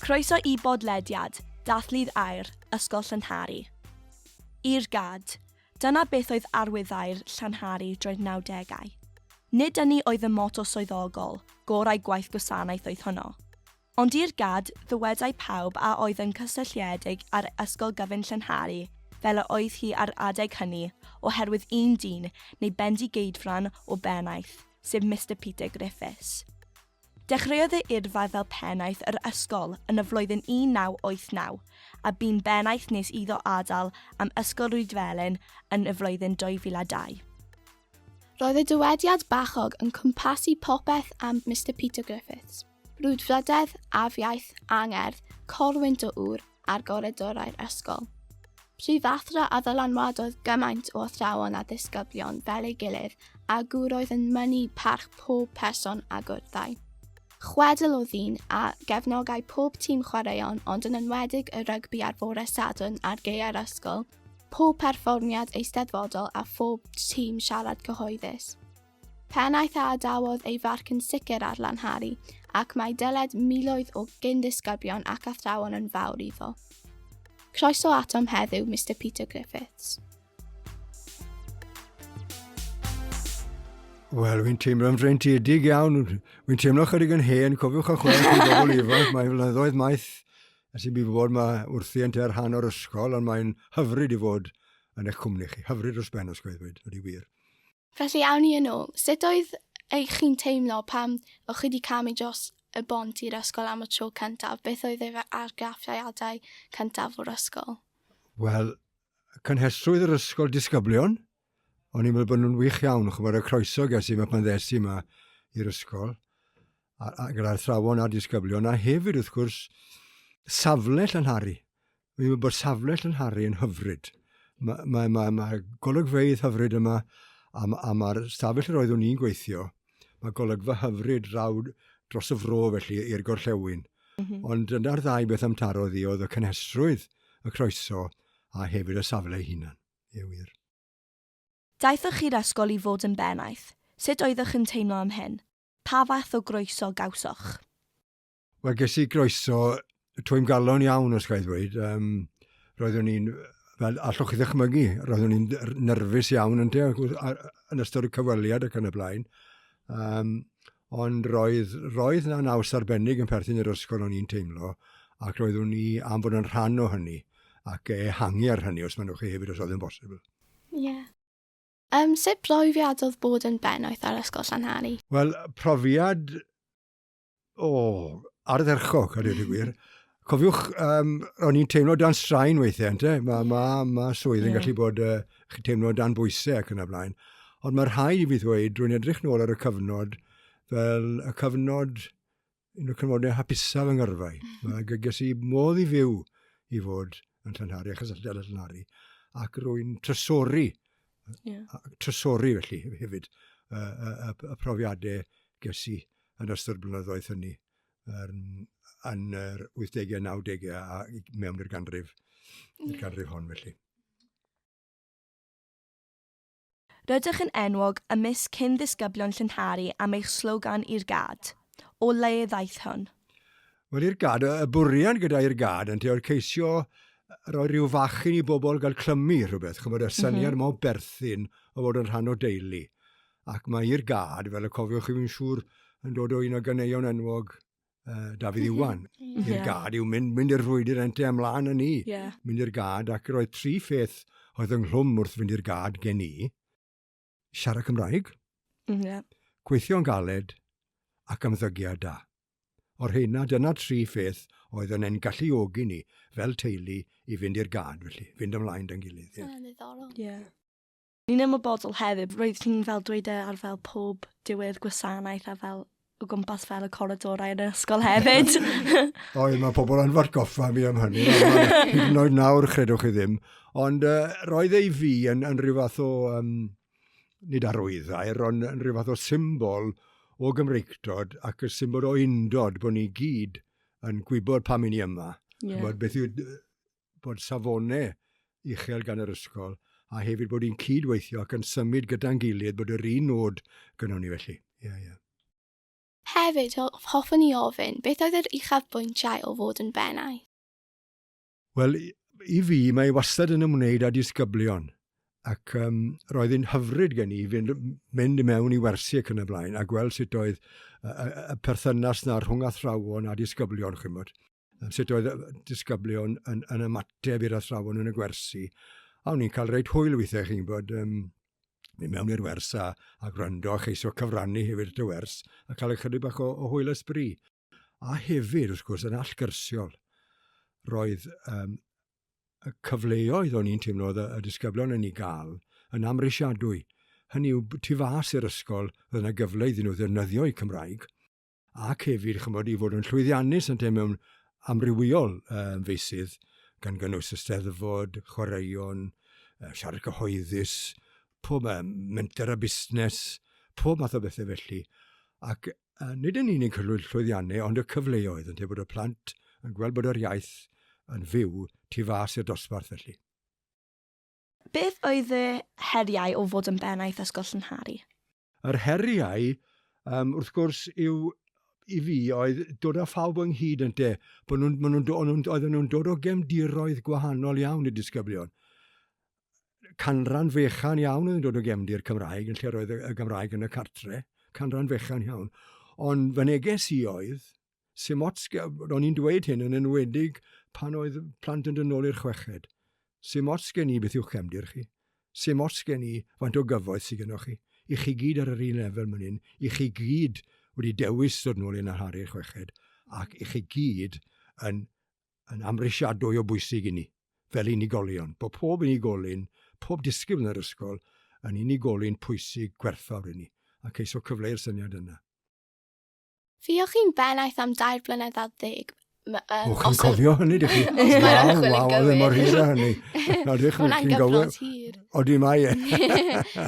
Croeso i bodlediad Dathlu'r Aer, Ysgol Llanhari. I'r gad, dyna beth oedd arwyddau'r Llanhari droi'r 90au. Nid ynni oedd y moto swyddogol, gorau gwaith gwasanaeth oedd hwnnw. Ond i'r gad, ddywedai pawb a oedd yn cysylltiedig â'r ysgol gyfun Llanhari fel y oedd hi ar adeg hynny, oherwydd un dyn, neu bendigeidfran o bennaeth, sef Mister Peter Griffiths. Dechreuodd ei yrfa fel pennaeth yr ysgol yn y flwyddyn 1989, a bu'n bennaeth nes iddo adael am Ysgol Rhydfelyn yn y flwyddyn 2002. Roedd y dywediad bachog yn cwmpasu popeth am Mister Peter Griffiths. Brwdfrydedd, afiaith, angerdd, corwynt o ŵr ar goridorau'r ysgol. Prifathro a ddylanwadodd gymaint o athrawon a ddisgyblion fel ei gilydd a gwroedd yn mynnu parch pob person a gwrthai. Chwedl o ddyn a gefnogai pob tîm chwaraeon ond yn enwedig y rygbi ar fore Sadwrn ar gaeau'r ysgol, pob perfformiad eisteddfodol a phob tîm siarad cyhoeddus. Pennaeth a adawodd ei farc yn sicr ar Lanhari, ac mae dyled miloedd o gyn-ddisgyblion ac athrawon yn fawr iddo. Croeso atom heddiw, Mister Peter Griffiths. Wel, fi'n teimlo'n freintiedig iawn. Fi'n teimlo chydig yn hen, cofiwch a chwarae chi bobl ifanc. Mae flynyddoedd maith ers i mi fod ma wrthi yn te'r rhan o'r ysgol, ond mae'n hyfryd i fod yn eich cwmni chi. Hyfryd dros ben os gweithwyd, wedi wir. Felly awn ni yn ôl. Sut oedd eich chi'n teimlo pam o'ch chi wedi camu dros y bont i'r ysgol am y tro cyntaf? Beth oedd eich argraffiadau cyntaf o'r ysgol? Wel, cynhesrwydd yr ysgol disgyblion, o'n i'n meddwl bod nhw'n wych iawn, chwbod y croeso ges i yma pan ddes i yma i'r ysgol, a, a gyda'r thrawon a'r disgyblion, a hefyd wrth gwrs safle Llanhari. Fi'n meddwl bod safle Llanhari yn hyfryd. Mae, mae, mae, mae golygfeidd hyfryd yma, a, a mae'r stafell yr oeddwn i'n gweithio, mae golygfa hyfryd draw dros y fro felly i'r gorllewin. Mm -hmm. Ond yna'r ddau beth am taro ddi oedd y cynhesrwydd, y croeso, a hefyd y safle ei hunan. Ie wir. Daethoch chi'r ysgol i fod yn bennaeth. Sut oeddech yn teimlo am hyn? Pa fath o groeso gawsoch? Wel, ges i groeso twym galon iawn, os gael ddweud. Um, roeddwn i'n, fel allwch chi ddychmygu, roeddwn i'n nerfus iawn yn, te, yn ystod y cyfweliad ac yn y blaen. Um, ond roedd, roedd na naws arbennig yn perthyn i'r ysgol o'n i'n teimlo, ac roeddwn i am fod yn rhan o hynny, ac ehangu ar hynny os maen nhw'n chi hefyd os oedd yn bosibl. Ie. Yeah. Um, sut brofiad oedd bod yn bennaeth ar Ysgol Llanhari? Wel, profiad o, ardderchog, a dweud y gwir. Cofiwch, um, o'n i'n teimlo dan straen weithiau, ente? Mae ma, ma swydd yn yeah. gallu bod, uh, chi'n teimlo dan bwysau ac yn y blaen. Ond mae'r rhaid i fi ddweud, rwy'n edrych nôl ar y cyfnod, fel y cyfnod, un o'r cyfnodau hapusaf yng ngyrfau. Mae gyges i modd i fyw i fod yn Llanhari, achos yn Llanhari, ac rwy'n trysori, yeah. trysori felly hefyd, y, y, y, y profiadau ges i yn ystod blynyddoedd hynny yn, yn yr 80au, 90au a mewn i'r ganrif, yeah. ganrif hon felly. Rydych yn enwog ymysg cyn-ddisgyblion Llynhari am eich slogan 'I'r Gad'. O le ddaeth hwn? Wel, i'r gad, y bwriad gyda i'r gad yn oedd ceisio roi rhyw fachyn i bobl gael clymu rhywbeth, chymod, y syniad mm -hmm. berthyn o fod yn rhan o deulu. Ac mae i'r gad, fel y cofiwch chi fi'n siŵr, yn dod o un o ganeuon enwog uh, Dafydd mhm. Iwan. Mm -hmm. I'r gad yw mynd, mynd i'r rhwydr ente ymlaen yn ni. Yeah. Mynd i'r gad ac roedd tri pheth oedd yng nghlwm wrth fynd i'r gad gen i. Siarad Cymraeg, mm, yeah. gweithio'n galed ac ymddygiad da. O'r heina, dyna tri pheth oedd yn ein galluogi ni fel teulu i fynd i'r gad felly, fynd ymlaen da'n gilydd. Ie. Yeah. Yeah. Ni'n ymwybodol hefyd, roeddet ti'n fel dweud e ar fel pob diwedd gwasanaeth a fel o gwmpas fel y coridorau yn yr ysgol hefyd. o, mae pobl yn fod goffa fi am hynny. Hyd yn oed nawr, chredwch chi ddim. Ond uh, roedd ei fi yn, yn rhyw fath o, um, nid arwyddair, ond yn rhyw fath o symbol o Gymreictod ac y symbol o undod bod ni gyd yn gwybod pam i ni yma. Yeah. Bod beth yw bod safonau uchel gan yr ysgol a hefyd bod ni'n cyd-weithio ac yn symud gyda'n gilydd bod yr un nod gyda ni felly. Ie, ie. Hefyd, hoffwn ni ofyn, beth oedd yr uchafbwyntiau o fod yn Bennau? Wel, i fi, mae e wastad yn ymwneud â disgyblion. Ac um, roedd hi'n hyfryd gen i fynd, mynd i mewn i wersi ac yn y blaen a gweld sut oedd y, y, y perthynas na rhwng athrawon a disgyblion, chymod. sut oedd disgyblion yn, yn ymateb i'r athrawon yn y gwersi. A o'n i'n cael reit hwyl weithiau chi'n bod um, mynd mewn i'r wers a, a gwrando a cheisio cyfrannu hefyd y wers a cael ychydig bach o, o hwyl ysbri. A hefyd, wrth gwrs, yn allgyrsiol, roedd um, y cyfleoedd o'n i'n teimlo y, y disgyblion yn ei gael yn amrisiadwy. Hynny yw, tu fas i'r ysgol, roedd yna gyfle iddyn nhw ddefnyddio'u Cymraeg, ac hefyd chymod, i fod yn llwyddiannus yn te mewn amrywiol um, feisydd, gan gynnwys y steddfod, chwaraeon, uh, siarad cyhoeddus, pob um, menter a busnes, pob math o bethau felly. Ac uh, nid yn unig hylwy'r llwyddiannau, ond y cyfleoedd, yn te bod y plant yn gweld bod yr iaith yn fyw tu fas i'r dosbarth felly. Beth oedd y heriau o fod yn Bennaeth Ysgol Llynhari? Yr heriau, yym, wrth gwrs, yw i fi oedd dod â phawb ynghyd ynte. Bod nhw'n, maen nhw'n, o'n nhw'n, oedden nhw'n dod o gefndiroedd gwahanol iawn y disgyblion. Canran fechan iawn oedd yn dod o gefndir Cymraeg, yn lle roedd y, y Gymraeg yn y cartre. Canran fechan iawn. Ond fy neges i oedd, Sim ots, ro'n i'n dweud hyn yn enwedig pan oedd plant yn dynol i'r chweched. Sim ots gen i beth yw'ch cefndir chi. Sim ots gen i faint o gyfoeth sydd gennych chi. I chi gyd ar yr un lefel mynd hyn. I chi gyd wedi dewis dod nôl i'n arhari'r chweched. Ac i chi gyd yn, yn amrisiadwy o bwysig i ni. Fel unigolion. Bod pob unigolyn, pob disgybl yn yr ysgol yn unigolyn pwysig gwerthfawr i ni. Ac eiso cyfleu'r syniad yna. Fi o'ch chi'n bennaeth am dair blynedd a ddeg. Um, o, chi'n cofio hynny, dych chi? Waw, waw, oedd e mor hir a hynny. Ydych chi'n gofio? hir. O, di mae e.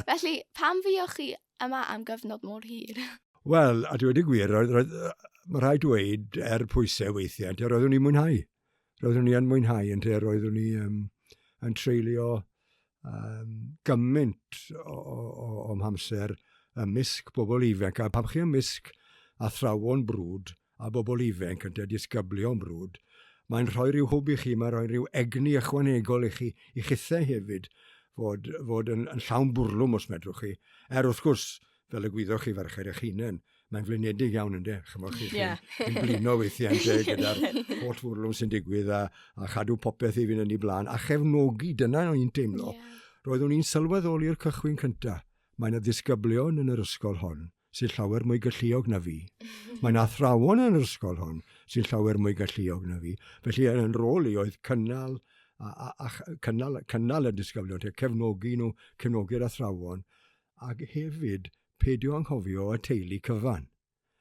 Felly, pam fi o'ch chi yma am gyfnod mor hir? Wel, a dwi wedi gwir, roedd, roedd, mae rhaid dweud, er pwysau weithiau, roeddwn i'n mwynhau. roeddwn ni yn mwynhau yn lle roeddwn ni um, yn treulio um, gymaint o, o, o amser ymysg bobl ifanc. A pam chi ymysg athrawon brwd a bobl ifanc yn disgyblion brwd, mae'n rhoi rhyw hwb i chi, mae'n rhoi rhyw egni ychwanegol i chi, i chithau hefyd, fod, fod yn, yn llawn bwrlwm os medrwch chi. Er wrth gwrs, fel y gwyddoch chi farched eich hunain, mae'n flinedig iawn ynddo, chymod chi, yeah. chi'n blino weithiau ynte gyda'r holl fwrlwm sy'n digwydd a, a chadw popeth i fynd yn ei blaen, a chefnogi, dyna o'n i'n teimlo. Yeah. Roeddwn i'n sylweddoli'r cychwyn cyntaf. Mae'n y ddisgyblion yn yr ysgol hon sy'n llawer mwy galluog na fi. Mae'n athrawon yn yr ysgol hon sy'n llawer mwy galluog na fi. Felly yn rôl i oedd cynnal, a, a, a cynnal, cynnal y disgyblion, cefnogi nhw, cefnogi'r athrawon, Ac hefyd, peidio anghofio y teulu cyfan.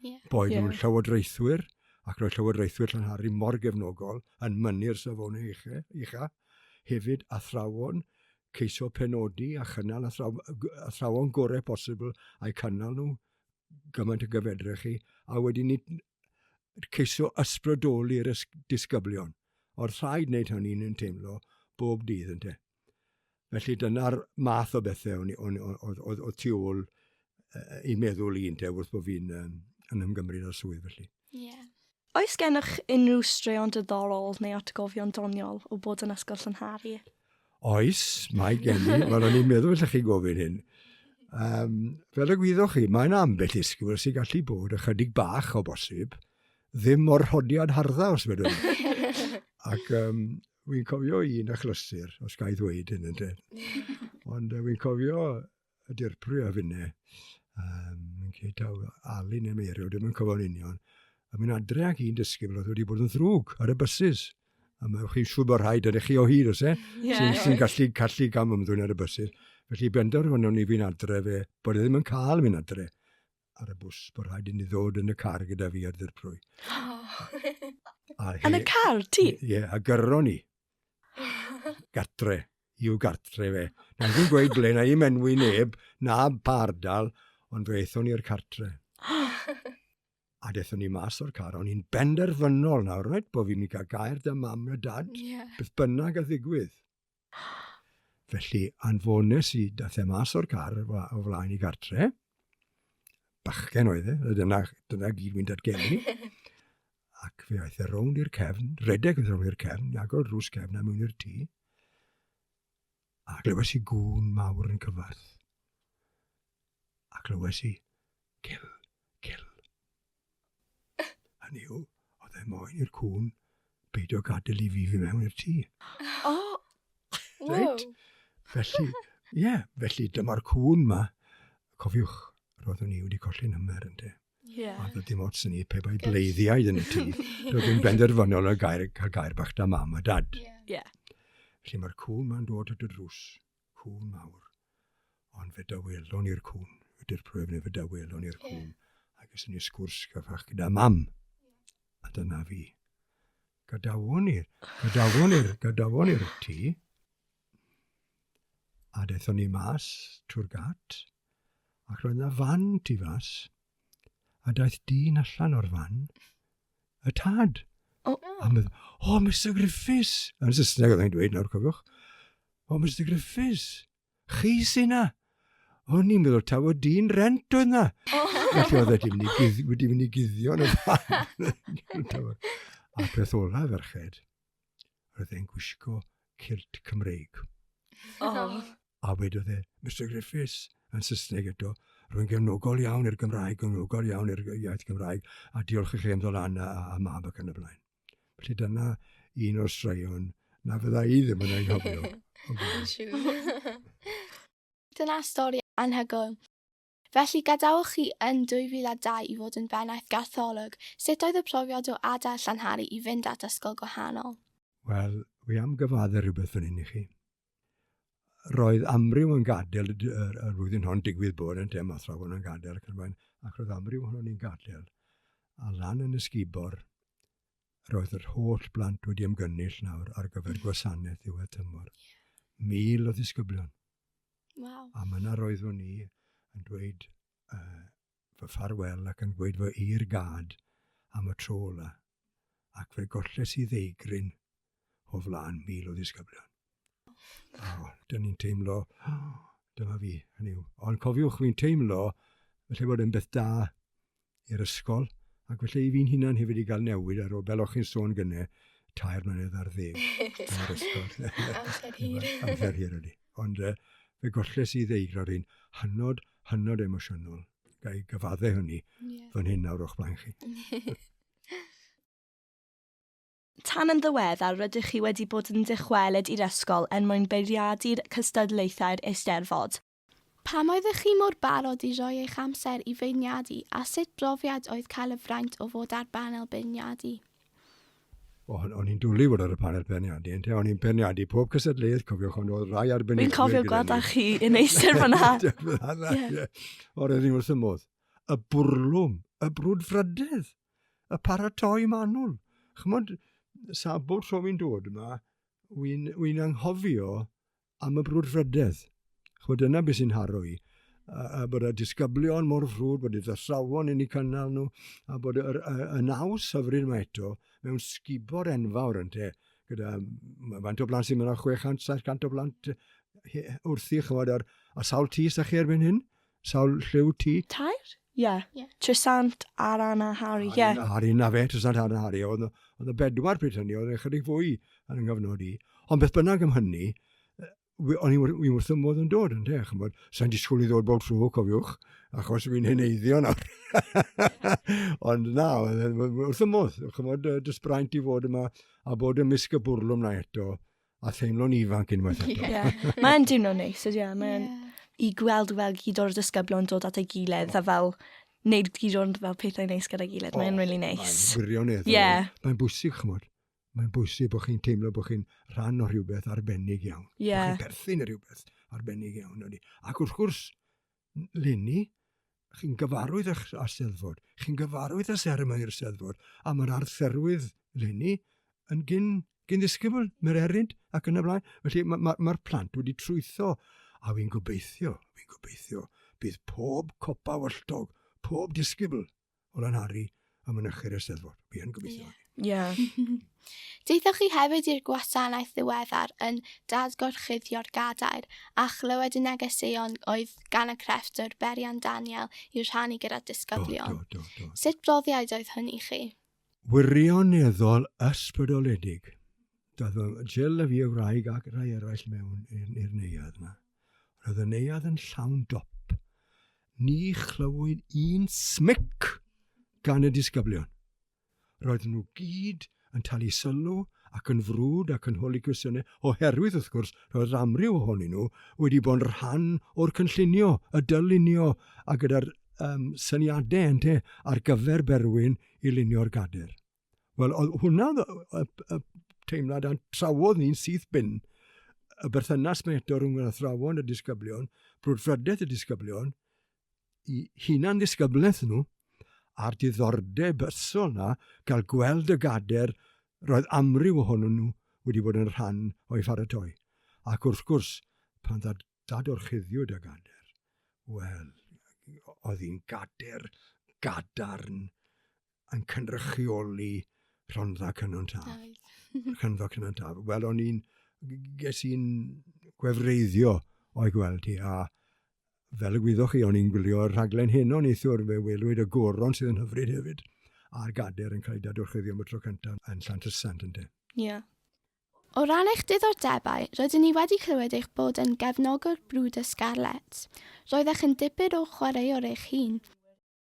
Yeah. Boed yeah. nhw'n llywodraethwyr, ac roedd llywodraethwyr Llanhari mor gefnogol yn mynnu'r safon eicha, eicha, hefyd athrawon, ceisio penodi a chynnal athrawon, athrawon gorau posibl a'i cynnal nhw gymaint y gyfedrech chi, a wedyn ni ceisio ysbrydoli'r disgyblion. O'r rhaid wneud hynny'n yn teimlo bob dydd yn te. Felly dyna'r math o bethau o'n, o'n, oedd, oedd, oedd tu ôl uh, i meddwl i ynte wrth bod fi'n um, yn ymgymryd â'r swydd felly. Yeah. Oes gennych unrhyw straeon diddorol neu atgofion doniol o bod yn ysgol Llynhari? Oes, mae gen i. Wel, o'n i'n meddwl lle chi gofyn hyn. Um, fel y gwyddoch chi, mae'n ambell isgwyl sy'n gallu bod ychydig bach o bosib ddim o'r rhodiad hardda, os fedrwn. Ac um, wy'n cofio un achlysur, os gael ddweud hyn yn dweud. Ond uh, wy'n cofio y dirprwy a finne, um, yn ceitaw Ali neu Meirio, dim yn cofio'n union, a mynd adre ac un dysgu fel oedd wedi bod yn ddrwg ar y bysus. A mae chi'n siŵr bod rhaid yn eich chi o hyd, os e, yeah. sy'n sy gallu, gallu gam ymddwyn ar y bysus. Felly benderfynwn ni fi'n adre fe, bod e ddim yn cael mynd adre. ar y bws, bod rhaid i ni ddod yn y car gyda fi ar ddirprwy. Yn y car, ti? Ie, yeah, a gyrro ni. Gartre, i'w gartre fe. Na i'n gweud ble, na i menwi neb, na pa ardal, ond fe eithon ni'r cartre. a dethon ni mas o'r car, o'n i'n benderfynol nawr, rhaid bod fi'n mynd cael gair dy mam na dad, yeah. beth bynnag a ddigwydd. Felly, anfones i dath e mas o'r car o flaen i gartre. Bachgen oedd e, a dyna, dyna gyd mynd at geni. Ac fe aeth e rownd i'r cefn, redeg oedd rownd i'r cefn, i agor drws cefn a mewn i'r tŷ. A glywes i gŵn mawr yn cyfarth. A glywes i Kill, kill. Hynny yw, oedd e moyn i'r cŵn beidio gadael i fi fi mewn i'r tŷ. O! Reit? Felly, ie, yeah, felly dyma'r cŵn ma. Cofiwch, roeddwn i wedi colli number yn te. Yeah. A dod dim ots yn ni pe bai bleiddiau yn y tŷ. Roedd yn benderfynol o gair, cael gair bach da mam a dad. Yeah. yeah. Felly mae'r cŵn ma'n dod at y drws. cŵn mawr, ond fe dawelon ni'r cŵn, y dirprwyf neu fe dawelon ni'r cŵn, yeah. ac ysyn ni sgwrs gyfach gyda mam, a dyna fi. Gadawon ni, gadawon ni'r, gadawon ni'r tŷ, a dethon ni mas trwy'r gat, ac roedd yna fan tu fas, a daeth dyn allan o'r fan, y tad. O. A mynd, oh, Mr Griffiths. Yn Saesneg oedd e'n dweud nawr, cofiwch. Oh, Mr Griffiths, chi sy'n na. O'n i'n meddwl taw o dyn rent oedd na. Felly oedd wedi mynd i guddio, wedi mynd i guddio yn y fan. a peth ola ferched, roedd e'n gwisgo cilt Cymreig. Oh. A wedodd e, Mister Griffiths, yn Saesneg eto, rwy'n gefnogol iawn i'r Gymraeg, gefnogol iawn i'r iaith Gymraeg, a diolch i chi am ddod lan a, a mab ac yn y blaen. Felly dyna un o'r straeon na fydda i ddim yn anghofio. Dyna stori anhygoel. Felly, gadawch chi yn 2002 i fod yn bennaeth gartholwg, sut oedd y profiad o adael Llanhari i fynd at ysgol gwahanol? Wel, wi am gyfadde rhywbeth fan hyn i chi. Roedd amryw yn gadael y, y, y flwyddyn hon digwydd bod yn tem athrawon yn gadael ac yn rhaid, ac roedd amryw ohonon ni'n gadael. A lan yn ysgubor, roedd yr holl blant wedi ymgynnull nawr ar gyfer gwasanaeth ddiwedd tymor. Mil o ddisgyblion. Wow. A mae yna roeddwn ni yn dweud uh, fy ffarwel ac yn dweud fy i'r gad am y tro ola. Ac fe golles i ddeigryn o flaen mil o ddisgyblion. A oh, dyn ni'n teimlo, oh, dyma fi, hynny yw. Ond cofiwch, fi'n teimlo, felly bod yn beth da i'r ysgol, ac felly i fi'n hunan hefyd i gael newid ar ôl, fel o'ch chi'n sôn gyne, tair mlynedd ar ddeg yn yr ysgol. Amser hir. Amser hir ydy. Ond uh, fe golles i ddeud ro'r hyn hynod, hynod emosiynol. Gai gyfadde hynny yeah. fan hyn nawr o'ch blaen chi. Tan yn ddiweddar rydych chi wedi bod yn dychwelyd i'r ysgol yn mwyn beiriadu'r cystadlaethau'r Eisteddfod. Pam oeddech chi mor barod i roi eich amser i feirniadu a sut brofiad oedd cael y fraint o fod ar banel beirniadu? O, o'n i'n dwlu fod ar y panel beirniadu, ynte, o'n i'n beirniadu pob cysadleuaeth, cofiwch, ond oedd rai arbenigwyr... Fi'n cofio gweld â chi yn eistedd fanna. O, roedd ni wrth y modd. Y bwrlwm, y brwdfrydedd, y paratoi manwl. Chymod, sabo'r tro fi'n dod yma, wy'n wy anghofio am y brwdfrydedd. Chod dyna beth sy'n haro i. A, a bod y disgyblion mor frwd, bod y ddasawon yn eu cynnal nhw, a bod yr, y, y naws hyfryd yma eto mewn sgubor enfawr yn te, gyda faint o blant sy'n mynd ar 600-700 o blant wrthi, chymod, ar, a sawl tis â chi erbyn hyn? Sawl lliw ti? Tair? Ie. Ie. Trysant, Aran a Harri, ie. Aran a Harri, 'na fe, Trysant, Aran a Harri. Oedd 'na bedwar pryd hynny, oedd 'na ychydig fwy yn 'nghyfnod i. Ond beth bynnag am hynny, o'n i wrth fy modd yn dod, ynde, chimod. Sa'n disgwyl i ddod bob tro, cofiwch, achos fi'n heneiddio nawr. Ond na, wrth y modd, chimod, yy, jyst braint i fod yma a bod ymysg y bwrlwm 'na eto. A theimlo'n ifanc unwaith eto. Ie. Mae'n dimlo'n neis, ydy e. Mae'n... Ie. I gweld fel gyd o'r disgyblion dod at ei gilydd a fel neud gyd o'n fel pethau neis gyda'i gilydd. Mae'n really neis. Mae'n wirioneddol. Ie. Mae'n bwysig, chymod. Mae'n bwysig bod chi'n teimlo bod chi'n rhan o rhywbeth arbennig iawn. Ie. Bod chi'n perthyn i rhywbeth arbennig iawn, ydy. Ac wrth gwrs, leni, chi'n gyfarwydd â, â Steddfod, chi'n gyfarwydd â seremoni'r Steddfod, a mae'r arferwydd leni yn gyn, gyn ddisgybl, mae'r eryd ac yn y blaen. Felly mae'r ma, ma, plant wedi trwytho, a fi'n gobeithio, fi'n gobeithio, bydd pob copa walltog, pob disgybl o lanhari a mynychu'r Eisteddfod. Fi yn gobeithio. Ie. Yeah. Deithoch chi hefyd i'r gwasanaeth ddiweddar yn Dad Gorchuddio'r Gadair a chlywed y negeseuon oedd gan y crefftwr Berian Daniel i'w rhannu gyda disgyblion. Do, do, do, do. Sut brofiad oedd hwn i chi? Wirioneddol ysbrydoledig. Doedd Jill a fi y wraig ac rhai eraill mewn i'r neuadd yna. Roedd y neuadd yn llawn dop. Ni chlywyd un smic gan y disgyblion. Roedd nhw gyd yn talu sylw ac yn frwd ac yn holi cwestiynau, oherwydd, wrth gwrs, roedd yr amryw ohonyn nhw wedi bod yn rhan o'r cynllunio, y dylunio a gyda'r um, syniadau ente ar gyfer Berwyn i lunio'r gader. Wel, oedd hwnna y, y, teimlad a'n trawodd ni'n syth bin y berthynas mae eto rhwng yr athrawon y disgyblion, brwdfrydedd y disgyblion, i hunan ddisgyblaeth nhw, a'r diddordeb ysol na gael gweld y gader roedd amryw ohonyn nhw wedi bod yn rhan o'i pharatoi. Ac wrth gwrs, pan ddad, dad o'r chuddiwyd y gader, wel, oedd hi'n gader gadarn yn cynrychioli Rhondda Cynon Taf. Rhondda Cynon Taf. Wel, o'n i'n, ges i'n gwefreiddio o'i gweld hi, a fel y gwyddoch chi, o'n i'n gwylio'r rhaglen hyn o'n eithwr, fe welwyd y goron sydd yn hyfryd hefyd, a'r gader yn cael ei dadwrchyddio am y tro cyntaf yn Llantysant yn de. Ie. Yeah. O ran eich diddordebau, rydyn ni wedi clywed eich bod yn gefnogwr Brwd y Scarlets. Roeddech yn dipyn o chwaraewr eich hun.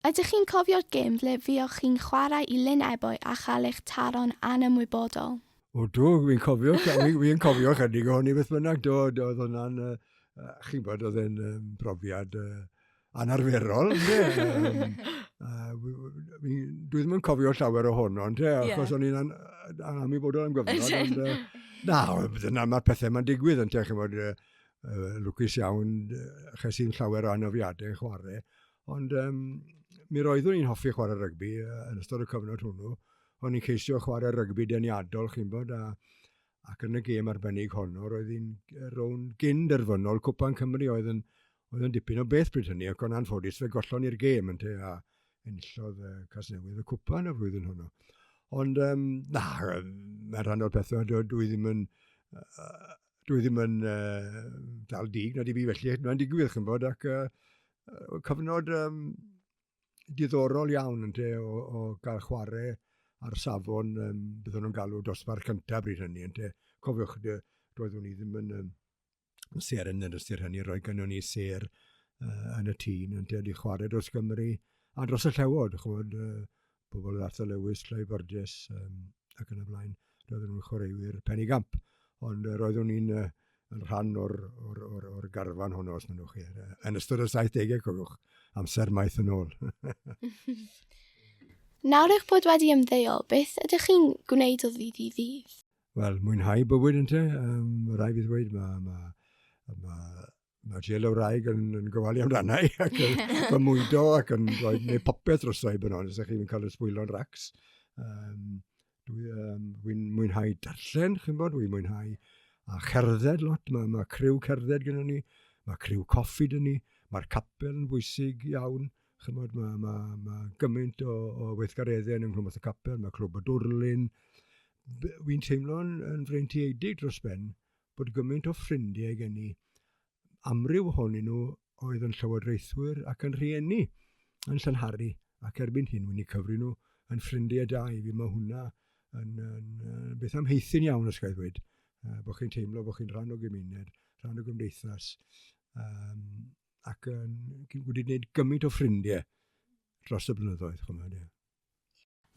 Ydych chi'n cofio'r gêm ble fuoch chi'n chwarae i Lyn Ebwy a chael eich taro'n anymwybodol? O do, fi'n cofio, fi'n cofio chydig o hynny beth bynnag, do, do, oedd hwnna'n, uh, chi'n bod, oedd e'n um, brofiad uh, anarferol, ynddo? Uh, dwi ddim yn cofio llawer o hwn, ond yeah. achos o'n i'n anamwybodol am gyfnod. Ond, uh, na, dyna mae'r pethau mae'n digwydd yn te, chymod, uh, lwcus iawn, ches i'n llawer o anofiadau yn chwarae. Ond um, mi roeddwn i'n hoffi chwarae rygbi yn ystod y cyfnod hwnnw. O'n i'n ceisio chwarae rygbi deniadol, chi'n bod, a, ac yn y gêm arbennig honno, roedd hi'n rown gyn derfynol Cwpan Cymru oedd yn, oedd yn dipyn o beth bryd hynny, ac o'n anffodus fe gollon i'r gêm yn te, a enillodd uh, Casnewydd y Cwpan y flwyddyn hwnnw. Ond, um, na, mae rhan o'r pethau, dwi, dwi ddim yn... Uh, dwi ddim yn uh, dal dig na di fi felly, mae'n digwydd chi'n bod, ac uh, cyfnod um, diddorol iawn yn te o, o gael chwarae ar safon, um, byddwn nhw'n galw dosbarth cyntaf bryd hynny, yn te, cofiwch, doeddwn ni ddim yn um, ser yn yr ystyr hynny, roedd gynnu ni ser uh, yn y tîn, yn te, di chwarae dros Gymru, a dros y llewod, chwod, uh, pobl yn Arthur Lewis, Clive Burgess um, ac yn y blaen. Roedden nhw'n chwaraewyr penigamp, ond uh, roeddwn ni'n uh, yn rhan o'r, or, or, or garfan honno, os mynnwch chi, uh, yn ystod y 70au, cofiwch, amser maith yn ôl. Nawr eich bod wedi ymddeol, beth ydych chi'n gwneud o ddydd i ddydd? Wel, mwynhau bywyd yn te. Um, rai fi ddweud, mae ma, ma mae Llel y Wraig yn, yn gofalu amdana i ac yn fy mwydo ac yn rhoi neu popeth dros roi bod ond, ydych chi'n cael y sbwylo'n racs. Um, Dwi'n um, dwi mwynhau darllen, chi'n bod, dwi'n mwynhau a cerdded lot, mae, mae criw cerdded gyda ni, mae criw coffi gyda ni, mae'r capel yn bwysig iawn, chi'n bod, mae, mae, mae gymaint o, o weithgareddau yn ymwneud y capel, mae clwb y dwrlun, wy'n teimlo'n yn freintiedig dros ben bod gymaint o ffrindiau gen i. Amryw ohonyn nhw oedd yn llywodraethwyr ac yn rhieni yn Llanhari ac erbyn hyn wy'n i cyfri nhw yn ffrindiau da i fi. Mae hwnna yn, yn, yn beth amheithyn iawn os gael ddweud. Uh, bod chi'n teimlo bod chi'n rhan o gymuned, rhan o gymdeithas um, ac yn, wedi gwneud gymaint o ffrindiau dros y blynyddoedd. Chymod, yeah.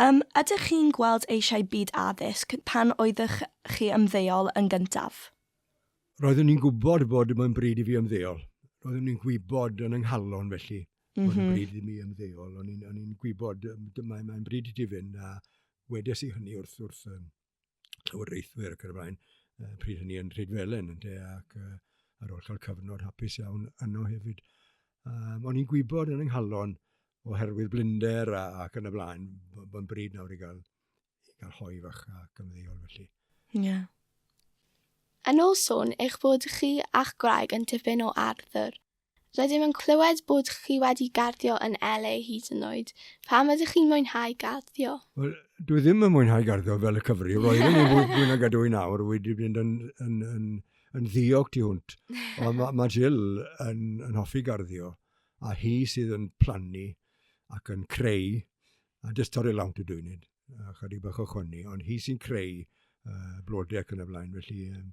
Yym, ydych chi'n gweld eisiau byd addysg pan oeddych chi ymddeol yn gyntaf? Roeddwn i'n gwybod bod mae'n bryd i fi ymddeol. Roeddwn i'n gwybod yn yng nghalon felly mm -hmm. bod yn bryd i mi ymddeol. O'n i'n gwybod mae'n mae bryd i ti fynd a wedes i hynny wrth, wrth, llywodraethwyr ac yn y blaen, uh, pryd hynny yn Rhydfelen, yn de, ac uh, ar ôl cael cyfnod hapus iawn yno hefyd. Um, o'n i'n gwybod yn ynghalon oherwydd blinder a, ac yn y blaen, bo'n bryd nawr i gael, i gael hoi fach a gymddeol felly. Ie. Yeah. Yn ôl sôn eich bod chi a'ch gwraig yn tipyn o Arthur, Rydym yn clywed bod chi wedi garddio yn LA hyd yn oed. Pam ydych chi'n mwynhau garddio? Wel, dwi ddim yn mwynhau garddio fel y cyfri. Roeddwn i'n fwy fwy nag ydw i nawr. Wedi mynd yn, yn, yn, yn ddiog tu hwnt. Ond mae ma Jill yn, yn hoffi garddio. A hi sydd yn plannu ac yn creu. A jyst torri lawnt y dwynud. A chydig bach o chwni. Ond hi sy'n creu uh, blodau ac yn y blaen. Felly, um,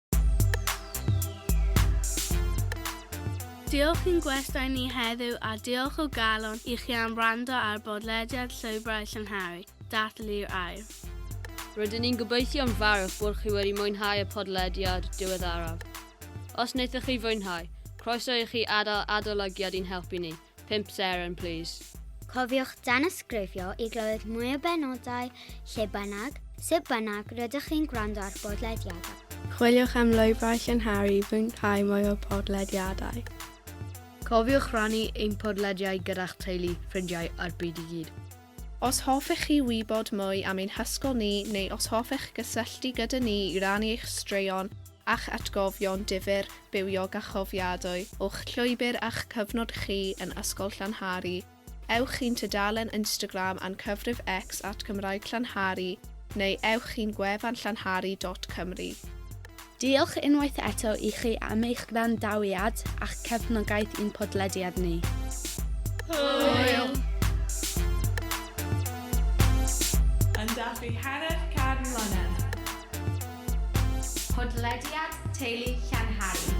Diolch i'n gwestai ni heddiw a diolch o galon i chi am wrando ar bodlediad Llwybrau Llangharry, Dathlu'r Air. Rydyn ni'n gobeithio'n fawr bod chi wedi mwynhau y podlediad diweddaraf. Os wnaethoch chi fwynhau, croeso i chi adael adolygiad i'n helpu ni. 5 seren, please. Cofiwch danysgrifio i glywed mwy o benodau lle bynnag, sut bynnag rydych chi'n gwrando ar bodlediadau. Chwiliwch am lwybrau llynharu i fwynhau mwy o podlediadau. Cofiwch rannu ein podlediau gyda'ch teulu, ffrindiau a'r byd i gyd. Os hoffech chi wybod mwy am ein hysgol ni neu os hoffech gysylltu gyda ni i rannu eich straeon a'ch atgofion difyr, bywiog a chofiadwy o'ch llwybr a'ch cyfnod chi yn Ysgol Llanhari, ewch i'n tudalen Instagram a'n cyfrif X at Gymraeg Llanhari neu ewch i'n gwefan llanhari dot cymru. Diolch unwaith eto i chi am eich gwrandawiad a'ch cefnogaeth i'n podlediad ni. Hwyl! Yn dathlu hanner can mlynedd. Podlediad Teulu Llanhari.